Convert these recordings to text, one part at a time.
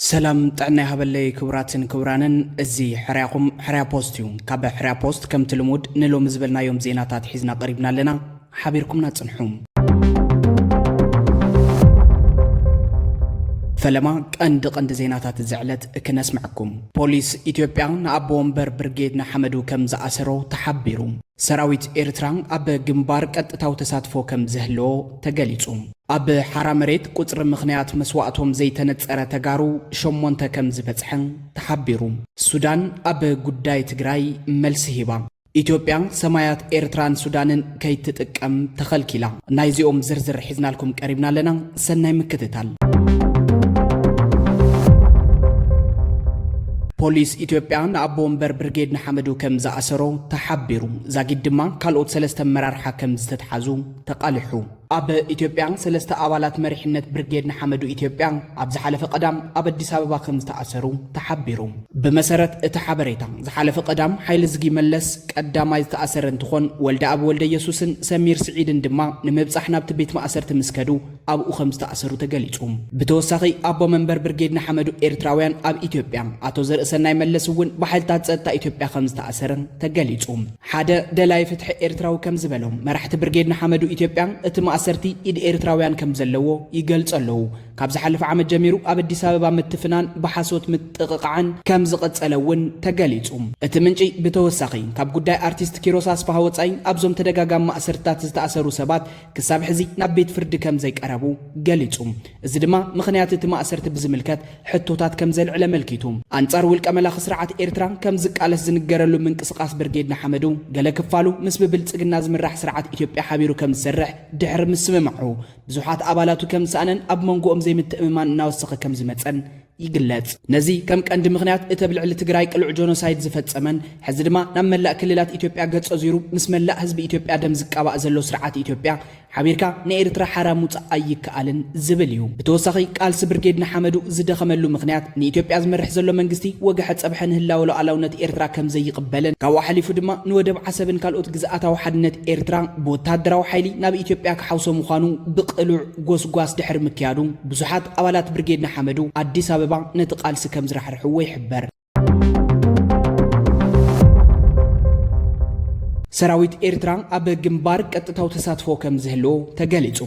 ሰላም ጥዕና ይሃበለይ ክቡራትን ክቡራንን፣ እዚ ሕርያኹም ሕርያ ፖስት እዩ። ካብ ሕርያ ፖስት ከምቲ ልሙድ ንሎሚ ዝበልናዮም ዜናታት ሒዝና ቀሪብና ኣለና። ሓቢርኩምና ጽንሑ። ፈለማ ቀንዲ ቀንዲ ዜናታት እዚ ዕለት ክነስምዐኩም። ፖሊስ ኢትዮጵያ ንኣቦ ወንበር ብርጌድ ንሓመዱ ከም ዝኣሰሮ ተሓቢሩ። ሰራዊት ኤርትራ ኣብ ግንባር ቀጥታዊ ተሳትፎ ከም ዝህልዎ ተገሊጹ። ኣብ ሓራ መሬት ቁጽሪ ምኽንያት መስዋእቶም ዘይተነጸረ ተጋሩ ሸሞንተ ከም ዝበጽሐ ተሓቢሩ። ሱዳን ኣብ ጉዳይ ትግራይ መልሲ ሂባ። ኢትዮጵያ ሰማያት ኤርትራን ሱዳንን ከይትጥቀም ተኸልኪላ። ናይዚኦም ዝርዝር ሒዝናልኩም ቀሪብና ኣለና። ሰናይ ምክትታል። ፖሊስ ኢትዮጵያ ንኣቦ ወንበር ብርጌድ ንሓመዱ ከም ዝኣሰሮ ተሓቢሩ። ዛጊድ ድማ ካልኦት ሰለስተ ኣመራርሓ ከም ዝተትሓዙ ተቓሊሑ። ኣብ ኢትዮጵያ ሰለስተ ኣባላት መሪሕነት ብርጌድ ንሓመዱ ኢትዮጵያ ኣብ ዝሓለፈ ቀዳም ኣብ ኣዲስ ኣበባ ከም ዝተኣሰሩ ተሓቢሩ። ብመሰረት እቲ ሓበሬታ ዝሓለፈ ቀዳም ሓይልዝጊ መለስ ቀዳማይ ዝተኣሰረ እንትኾን ወልደኣብ ወልደየሱስን ሰሚር ስዒድን ድማ ንምብፃሕ ናብቲ ቤት ማእሰርቲ ምስ ከዱ ኣብኡ ከም ዝተኣሰሩ ተገሊፁ። ብተወሳኺ ኣቦ መንበር ብርጌድ ንሓመዱ ኤርትራውያን ኣብ ኢትዮጵያ ኣቶ ዘርእሰናይ መለስ እውን ብሓይልታት ፀጥታ ኢትዮጵያ ከም ዝተኣሰረ ተገሊፁ። ሓደ ደላይ ፍትሒ ኤርትራዊ ከም ዝበሎ፣ መራሕቲ ብርጌድ ንሓመዱ ኢትዮጵያ እቲ ማእሰርቲ ኢድ ኤርትራውያን ከም ዘለዎ ይገልጹ ኣለዉ። ካብ ዝሓለፈ ዓመት ጀሚሩ ኣብ ኣዲስ ኣበባ ምትፍናን ብሓሶት ምጥቕቓዕን ከም ዝቐጸለ እውን ተገሊጹ። እቲ ምንጪ ብተወሳኺ፣ ካብ ጉዳይ ኣርቲስት ኪሮስ ኣስፍሃ ወጻኢ ኣብዞም ተደጋጋሚ ማእሰርትታት ዝተኣሰሩ ሰባት ክሳብ ሕዚ ናብ ቤት ፍርዲ ከም ዘይቀረቡ ገሊጹ። እዚ ድማ ምኽንያት እቲ ማእሰርቲ ብዝምልከት ሕቶታት ከም ዘልዕል ኣመልኪቱ። ኣንጻር ውልቀ መላኺ ስርዓት ኤርትራ ከም ዝቃለስ ዝንገረሉ ምንቅስቓስ ብርጌድ ንሓመዱ፣ ገለ ክፋሉ ምስ ብብልጽግና ዝምራሕ ስርዓት ኢትዮጵያ ሓቢሩ ከም ዝሰርሕ ድሕሪ ምስምማዑ፣ ብዙሓት ኣባላቱ ከም ዝሰኣነን ኣብ መንጎኦም ዘይምትእምማን እናወሰኸ ከም ዝመጸን ይግለጽ። ነዚ ከም ቀንዲ ምኽንያት እቲ ኣብ ልዕሊ ትግራይ ቅሉዕ ጆኖሳይድ ዝፈጸመን ሕዚ ድማ ናብ መላእ ክልላት ኢትዮጵያ ገጹ ኣዙሩ ምስ መላእ ህዝቢ ኢትዮጵያ ደም ዝቃባእ ዘሎ ስርዓት ኢትዮጵያ፣ ሓቢርካ ንኤርትራ ሓራ ምውጻእ ኣይከኣልን ዝብል እዩ። ብተወሳኺ ቃልሲ ብርጌድ ንሓመዱ ዝደኸመሉ ምኽንያት ንኢትዮጵያ ዝመርሕ ዘሎ መንግስቲ ወግሐ ጸብሐ ንህላወ ሉዓላውነት ኤርትራ ከም ዘይቕበልን ካብኡ ሓሊፉ ድማ ንወደብ ዓሰብን ካልኦት ግዝኣታዊ ሓድነት ኤርትራ ብወተሃደራዊ ሓይሊ ናብ ኢትዮጵያ ክሓውሶ ምዃኑ ብቕሉዕ ጎስጓስ ድሕሪ ምክያዱ ብዙሓት ኣባላት ብርጌድ ንሓመዱ ኣዲስ ኣበባ ነቲ ቃልሲ ከም ዝራሕርሕዎ ይሕበር። ሰራዊት ኤርትራ ኣብ ግንባር ቀጥታዊ ተሳትፎ ከም ዝህልዎ ተገሊጹ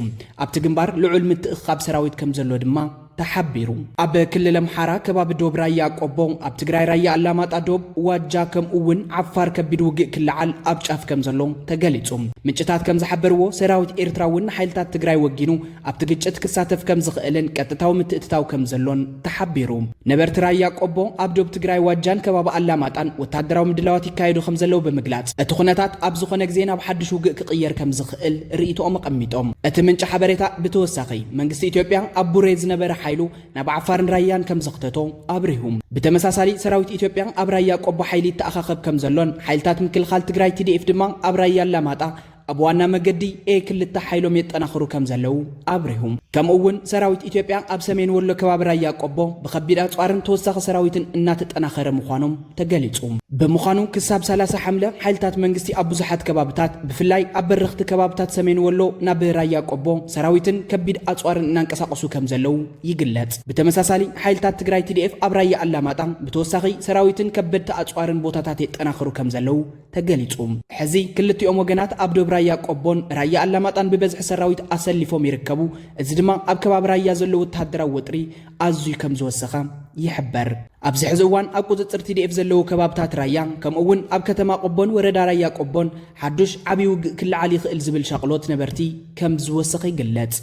ኣብቲ ግንባር ልዑል ምትእኽኻብ ሰራዊት ከም ዘሎ ድማ ተሓቢሩ ኣብ ክልል ኣምሓራ ከባቢ ዶብ ራያ ቆቦ ኣብ ትግራይ ራያ ኣላማጣ ዶብ ዋጃ ከምኡ እውን ዓፋር ከቢድ ውግእ ክለዓል ኣብ ጫፍ ከም ዘሎ ተገሊጹ ምንጭታት ከም ዝሓበርዎ ሰራዊት ኤርትራ እውን ንሓይልታት ትግራይ ወጊኑ ኣብቲ ግጭት ክሳተፍ ከም ዝኽእልን ቀጥታዊ ምትእትታው ከም ዘሎን ተሓቢሩ። ነበርቲ ራያ ቆቦ፣ ኣብ ዶብ ትግራይ ዋጃን ከባቢ ኣላማጣን ወተሃደራዊ ምድላዋት ይካየዱ ከም ዘለዉ ብምግላጽ፣ እቲ ኩነታት ኣብ ዝኾነ ግዜ ናብ ሓድሽ ውግእ ክቕየር ከም ዝኽእል ርእይቶኦም ኣቐሚጦም። እቲ ምንጪ ሓበሬታ ብተወሳኺ፣ መንግስቲ ኢትዮጵያ ኣብ ቡሬ ዝነበረ ሓይሉ ናብ ዓፋርን ራያን ከም ዘኽተቶ ኣብሪሁ። ብተመሳሳሊ፣ ሰራዊት ኢትዮጵያ ኣብ ራያ ቆቦ ሓይሊ ይተኣኻኸብ ከም ዘሎን ሓይልታት ምክልኻል ትግራይ፣ TDF፣ ድማ ኣብ ራያ ኣላማጣ ኣብ ዋና መገዲ ኤ ክልተ ሓይሎም የጠናኽሩ ከም ዘለዉ ኣብሪሁ። ከምኡ እውን ሰራዊት ኢትዮጵያ ኣብ ሰሜን ወሎ ከባቢ ራያ ቆቦ ብከቢድ ኣፅዋርን ተወሳኺ ሰራዊትን እናተጠናኸረ ምዃኖም ተገሊፁ። ብምዃኑ ክሳብ ሰላሳ ሓምለ ሓይልታት መንግስቲ ኣብ ብዙሓት ከባብታት ብፍላይ ኣብ በረኽቲ ከባብታት ሰሜን ወሎ ናብ ራያ ቆቦ ሰራዊትን ከቢድ ኣፅዋርን እናንቀሳቐሱ ከም ዘለዉ ይግለፅ። ብተመሳሳሊ ሓይልታት ትግራይ ቲዲኤፍ ኣብ ራያ ኣላማጣ ብተወሳኺ ሰራዊትን ከበድቲ ኣፅዋርን ቦታታት የጠናኽሩ ከም ዘለዉ ተገሊፁ። ሕዚ ክልቲኦም ወገናት ኣብ ዶብ ራያ ቆቦን ራያ ኣላማጣን ብበዝሒ ሰራዊት ኣሰሊፎም ይርከቡ። እዚ ድማ ኣብ ከባቢ ራያ ዘሎ ወተሃደራዊ ወጥሪ ኣዝዩ ከምዝወሰኸ ይሕበር። ኣብዚ ሕዚ እዋን ኣብ ቁፅፅር ቲዲኤፍ ዘለዎ ከባብታት ራያ ከምኡ እውን ኣብ ከተማ ቆቦን ወረዳ ራያ ቆቦን ሓዱሽ ዓብዪ ውግእ ክለዓል ይኽእል ዝብል ሻቕሎት ነበርቲ ከም ዝወሰኸ ይግለጽ።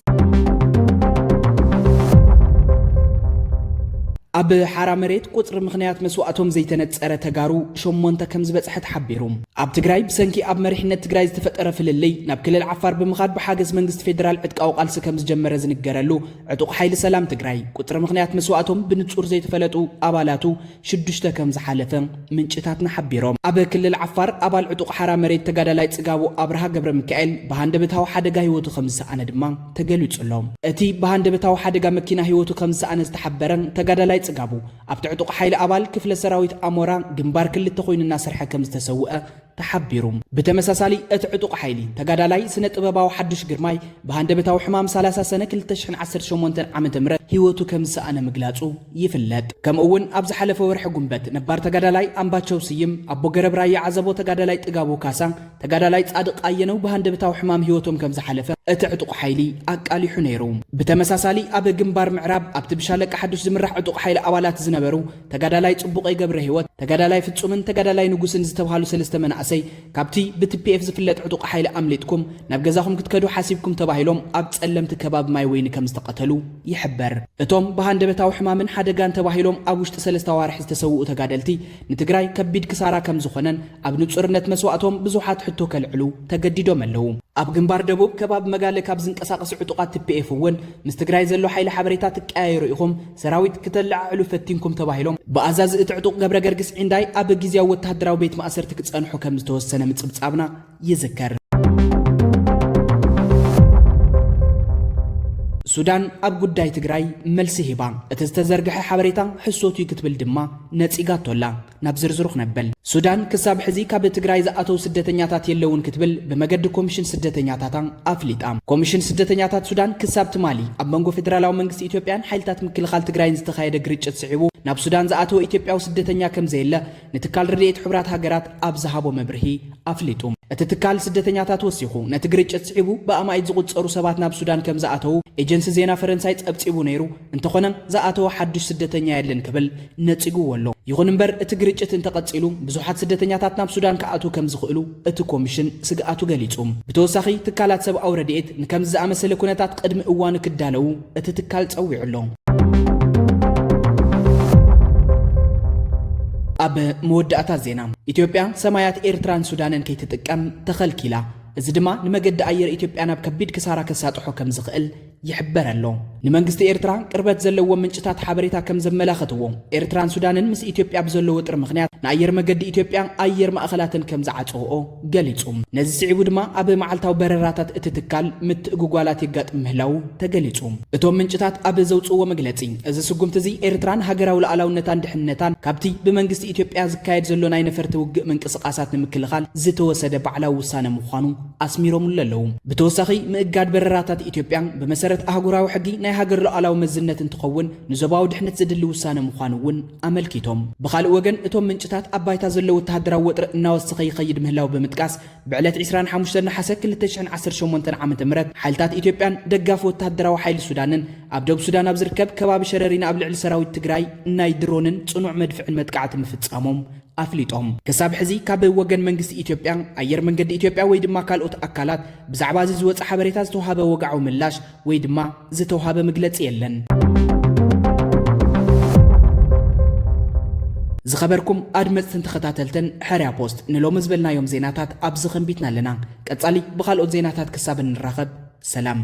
ኣብ ሓራ መሬት ቁፅሪ ምኽንያት መስዋእቶም ዘይተነፀረ ተጋሩ ሸሞንተ ከም ዝበፅሐ ተሓቢሩ። ኣብ ትግራይ ብሰንኪ ኣብ መሪሕነት ትግራይ ዝተፈጠረ ፍልልይ ናብ ክልል ዓፋር ብምኻድ ብሓገዝ መንግስቲ ፌዴራል ዕጥቃዊ ቃልሲ ከም ዝጀመረ ዝንገረሉ ዕጡቕ ሓይሊ ሰላም ትግራይ ቁፅሪ ምኽንያት መስዋእቶም ብንፁር ዘይተፈለጡ ኣባላቱ ሽዱሽተ ከም ዝሓለፈ ምንጭታትና ሓቢሮም። ኣብ ክልል ዓፋር ኣባል ዕጡቕ ሓራ መሬት ተጋዳላይ ጽጋቡ ኣብርሃ ገብረሚካኤል ብሃንደበታዊ ሓደጋ ህይወቱ ከም ዝሰኣነ ድማ ተገሊጹ ኣሎ። እቲ ብሃንደበታዊ ሓደጋ መኪና ህይወቱ ከም ዝሰኣነ ዝተሓበረ ተጋዳላይ ጽጋቡ፣ ኣብቲ ዕጡቕ ሓይሊ ኣባል ክፍለ ሰራዊት ኣሞራ ግንባር ክልተ ኮይኑ እናሰርሐ ከም ዝተሰውኣ ተሓቢሩ። ብተመሳሳሊ እቲ ዕጡቕ ሓይሊ፣ ተጋዳላይ ስነ ጥበባዊ ሓዱሽ ግርማይ ብሃንደበታዊ ሕማም ሰላሳ ሰነ ክልተ ሽሕን ዓሰርተ ሸሞንተን ዓመተ ምህረት ህይወቱ ከምዝሰኣነ ምግላጹ ይፍለጥ። ከምኡ'ውን ኣብ ዝሓለፈ ወርሒ ጉንበት ነባር ተጋዳላይ ኣምባቸው ስይም፣ ኣቦ ገረብ ራያ ዓዘቦ ተጋዳላይ ጥጋቡ ካሳ፣ ተጋዳላይ ጻድቕ ኣየነው ብሃንደበታዊ ሕማም ህይወቶም ከምዝሓለፈ እቲ ዕጡቕ ሓይሊ ኣቃሊሑ ነይሩ። ብተመሳሳሊ ኣብ ግንባር ምዕራብ ኣብቲ ብሻለቃ ሓዱሽ ዝምራሕ ዕጡቕ ሓይሊ ኣባላት ዝነበሩ፣ ተጋዳላይ ጽቡቐይ ገብረሂወት፣ ተጋዳላይ ፍጹምን ተጋዳላይ ንጉስን ዝተብሃሉ ሰለስተ መናእሰይ ካብቲ ብትፒኤፍ ዝፍለጥ ዕጡቕ ሓይሊ ኣምሊጥኩም ናብ ገዛኹም ክትከዱ ሓሲብኩም ተባሂሎም ኣብ ጸለምቲ ከባቢ ማይ ወይኒ ከም ዝተቐተሉ ይሕበር። እቶም ብሃንደበታዊ ሕማምን ሓደጋን ተባሂሎም ኣብ ውሽጢ ሰለስተ ኣዋርሕ ዝተሰውኡ ተጋደልቲ ንትግራይ ከቢድ ክሳራ ከም ዝኾነን ኣብ ንጹርነት መስዋእቶም ብዙሓት ሕቶ ከልዕሉ ተገዲዶም ኣለዉ። ኣብ ግንባር ደቡብ ከባቢ መጋለ ካብ ዝንቀሳቐሱ ዕጡቓት ትፒኤፍ እውን ምስ ትግራይ ዘሎ ሓይሊ ሓበሬታ ትቀያየሩ ኢኹም፣ ሰራዊት ክተለዓዕሉ ፈቲንኩም ተባሂሎም ብኣዛዚ እቲ ዕጡቕ ገብረገርግስ ዒንዳይ ኣብ ግዝያዊ ወተሃደራዊ ቤት ማእሰርቲ ክጸንሑ ከም ዝተወሰነ ምጽብጻብና ይዝከር። ሱዳን ኣብ ጉዳይ ትግራይ መልሲ ሂባ፣ እቲ ዝተዘርግሐ ሓበሬታ ሕሶት'ዩ ክትብል ድማ ነጺጋቶ ኣላ። ናብ ዝርዝሩ ክነብል፣ ሱዳን ክሳብ ሕዚ ካብ ትግራይ ዝኣተው ስደተኛታት የለውን ክትብል ብመገዲ ኮሚሽን ስደተኛታታ ኣፍሊጣ። ኮሚሽን ስደተኛታት ሱዳን ክሳብ ትማሊ ኣብ መንጎ ፌደራላዊ መንግስቲ ኢትዮጵያን ሓይልታት ምክልኻል ትግራይን ዝተኻየደ ግርጭት ስዒቡ ናብ ሱዳን ዝኣተወ ኢትዮጵያዊ ስደተኛ ከምዘየለ ንትካል ረድኤት ሕቡራት ሃገራት ኣብ ዝሃቦ መብርሂ ኣፍሊጡ። እቲ ትካል ስደተኛታት ወሲኹ ነቲ ግርጭት ስዒቡ ብኣማኢት ዝቑጸሩ ሰባት ናብ ሱዳን ከምዝኣተው ኤጀንሲ ዜና ፈረንሳይ ጸብጺቡ ነይሩ፣ እንተኾነ ዝኣተወ ሓዱሽ ስደተኛ የለን ክብል ነጺጉዎ ኣሎ። ይኹን እምበር እቲ ግርጭት እንተቐጺሉ ብዙሓት ስደተኛታት ናብ ሱዳን ክኣትዉ ከም ዝኽእሉ እቲ ኮሚሽን ስግኣቱ ገሊጹ። ብተወሳኺ ትካላት ሰብኣዊ ረድኤት ንከምዚ ዝኣመሰለ ኩነታት ቕድሚ እዋኑ ክዳለዉ እቲ ትካል ጸዊዑ ኣሎ። ኣብ መወዳእታ ዜና ኢትዮጵያ ሰማያት ኤርትራን ሱዳንን ከይትጥቀም ተኸልኪላ። እዚ ድማ ንመገዲ ኣየር ኢትዮጵያ ናብ ከቢድ ክሳራ ከሳጥሖ ከም ዝኽእል ይሕበር ኣሎ። ንመንግስቲ ኤርትራ ቅርበት ዘለዎም ምንጭታት ሓበሬታ ከም ዘመላኸትዎ፣ ኤርትራን ሱዳንን ምስ ኢትዮጵያ ብዘሎ ወጥሪ ምኽንያት ንኣየር መገዲ ኢትዮጵያ ኣየር ማእኸላተን ከም ዝዓጸውኦ ገሊጹ። ነዚ ስዒቡ ድማ ኣብ መዓልታዊ በረራታት እቲ ትካል ምትእጉጓላት የጋጥም ምህላዉ ተገሊጹ። እቶም ምንጭታት ኣብ ዘውጽእዎ መግለጺ፣ እዚ ስጉምቲ እዚ ኤርትራ ንሃገራዊ ልኣላውነታን ድሕንነታን ካብቲ ብመንግስቲ ኢትዮጵያ ዝካየድ ዘሎ ናይ ነፈርቲ ውግእ ምንቅስቓሳት ንምክልኻል ዝተወሰደ ባዕላዊ ውሳነ ምዃኑ ኣስሚሮምሉ ኣለዉ። ብተወሳኺ ምእጋድ በረራታት ኢትዮጵያ ብመሰረት ኣህጉራዊ ሕጊ ናይ ሃገር ሉዓላዊ መዝነት እንትኸውን ንዞባዊ ድሕነት ዘድሊ ውሳነ ምዃኑ እውን ኣመልኪቶም። ብኻልእ ወገን እቶም ምንጭታት ኣብ ባይታ ዘሎ ወተሃደራዊ ወጥሪ እናወሰኸ ይኸይድ ምህላው ብምጥቃስ ብዕለት ዕስራን ሓሙሽተን ነሓሰ ክልተ ሽሕን ዓሰርተ ሸሞንተን ዓመተ ምህረት ሓይልታት ኢትዮጵያን ደጋፊ ወተሃደራዊ ሓይሊ ሱዳንን ኣብ ደቡብ ሱዳን ኣብ ዝርከብ ከባቢ ሸረሪና ኣብ ልዕሊ ሰራዊት ትግራይ ናይ ድሮንን ፅኑዕ መድፍዕን መጥቃዕቲ ምፍፃሞም ኣፍሊጦም። ክሳብ ሕዚ ካብ ወገን መንግስቲ ኢትዮጵያ፣ ኣየር መንገዲ ኢትዮጵያ ወይ ድማ ካልኦት ኣካላት ብዛዕባ እዚ ዝወጸ ሓበሬታ ዝተውሃበ ወግዓዊ ምላሽ ወይ ድማ ዝተውሃበ ምግለጺ የለን። ዝኸበርኩም ኣድመጽትን ተኸታተልትን ሕርያ ፖስት ንሎሚ ዝበልናዮም ዜናታት ኣብዚ ከንቢትና ኣለና። ቀጻሊ ብኻልኦት ዜናታት ክሳብ እንራኸብ ሰላም።